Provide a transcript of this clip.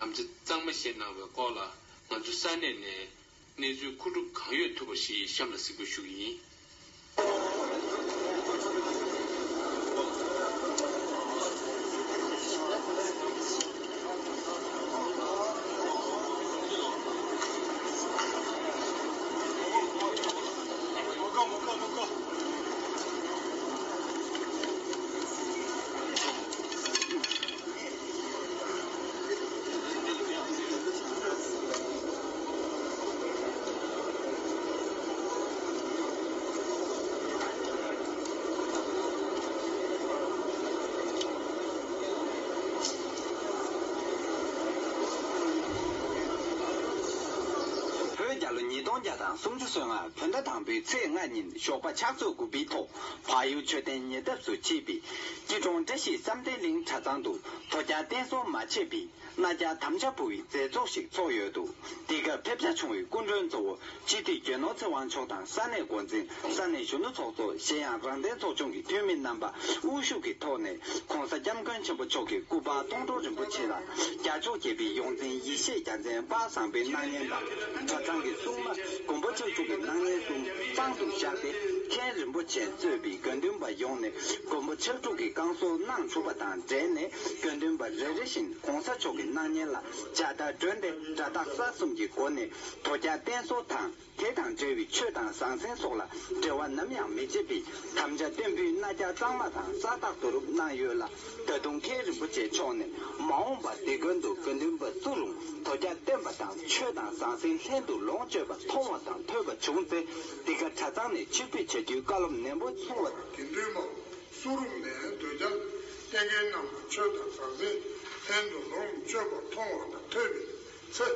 ནམ་ཚེ་གཙང་མ་བཞེས་གནང་བའི་སྐོར་ལ་ང་ཚོ་ས་གནས་ནས་གནས་ཚུལ་ཁུངས་གྲུབ་གང་ཡོད་ཐུབ་པ་ཞིག་གཤམ་ལ་གཟིགས་འབུལ་ཞུ་གི་ཡིན། བོད་རྒྱ་ལོ་ཉིས་སྟོང་བརྒྱ་དང་སུམ་ཅུ་སོ་ལྔ་བོད་ཟླ་དང་པོའི་ཚེས་ལྔ་ཉིན་ཞོགས་པ་ཕྱག་ཚོད་དགུ་པའི་ཐོག་བག་ཡོད་མཆོད་རྟེན་ཉེ་འདབས་སུ་མཆིས་པའི། སྐྱིད་གྲོང་བཀྲ་ཤིས་བསམ་གཏན་གླིང་གྲྭ་ཚང་དུ། དོ་རྒྱག་བསྟན་སྲུང་མ་ཆེ་བི་ན་རྒྱ་དམ་བཅའ་བུ་བའི་མཛད་ཚོགས་ཤིག་ཚོགས་ཡོད་འདུག་འདི་སྐབས་ཕེབས་བྱ་བྱུང་བའི་སྐུ་མགྲོན་གཙོ་བོ་སྤྱི་འཐུས་རྒྱལ་ནོར་ཚེ་དབང་མཆོག་དང་ས་གནས་འགོ་འཛིན་ས་གནས་གཞོན་ནུ་ཚོགས་གཙོ་གཞན་ཡང་རང་བསྟན་ཚོགས་ཆུང་གི་འཐུས་མི་རྣམ་པ་དབུ་བཞུགས་ཀྱི་ཐོག་ནས ྋགོང་ས ྋསྐྱབས་མགོན་ཆེན་པོ་མཆོག་གི་སྐུ་པར་སྟོང་སྒྲོག་རིན་པོ་ཆེ་ལ་རྒྱ་མཆོག་བརྒྱད་པའི་ཡོངས་འཛིན་ཡེ་ཤེས་རྒྱ་མཚན་དཔག་བཟང་པའི་སྣང་བརྙན་དང། གྲ་ཚང་གི་སྲུང་མ་མགོན་པོ་ཆོས་འབྱུང་གི་སྣང་བརྙན་གསུམ་དཔང་དུ་བཞག་སྟེ་མཁན་རིན་པོ་ཆེ་གཙོས་པའི་དགེ་འདུན་པ་ཡོངས་ནས་མགོན་པོ་ཕྱག་དྲུག་གི་བསྐང་གསོ་གནང་བྱུང་བ་དང་འབྲེལ་ནས་དགེ་འདུན་པ་རེ་རེ་བཞིན་གོང་ས་མཆོག་གི་སྣང་བརྙན་ལ་ལྗགས་བརྡ་བསྒྲོན་ཏེ་སྒྲ་རྟག་ས་གསུམ་གྱི་སྒོ་ནས་དོ་རྒྱག་བརྟན་གསོལ་དང། དེ་དང་འབྲེལ་བའི་ཆོས་དང་ཟང་ཟིང་སོགས་ལ་འབྲེལ་བ་ནམ་ཡང་མི་བྱེད་པའི་དམ་བཅའ་བརྟན་པོའི་རྣ་རྒྱ་གཙང་མ་དང་རྩ་རྟག་ཏུ་རུབ་གནང་ཡོད་ལ་ད་དུང་མཁན་རིན་པོ་ཆེ་མཆོག་ནས་མ་འོངས་པར་འདི་དགོན་དུ་དགེ་འདུན་པ་བཙུགས་རུང་དོ་རྒྱ་བརྟན་པ་དང་ཆོས་དང་ཟང་ཟིང་ལྷན་དུ་ལོངས་སྤྱོད་པ་མཐོང་བ་དང་ཐོས་པ་བྱུང་ཚེ་འདི་ག་གྲྭ་ཚང་ནས་ཕྱིར་ཕུད་བྱ་རྒྱུའི་བཀའ་སློབ་ནན་པོ་གསུང་བ། དགེ་འདུན་པ་བཙུགས་རུང་ནས་དོ་རྒྱ་བརྟན་མཁན་རྣམས་ལ་ཆོས་དང་ཟང་ཟིང་ལྷན་དུ་ལོངས་སྤྱོད་པ་མཐོང་བ་དང་ཐོས་པའི་ཚེ།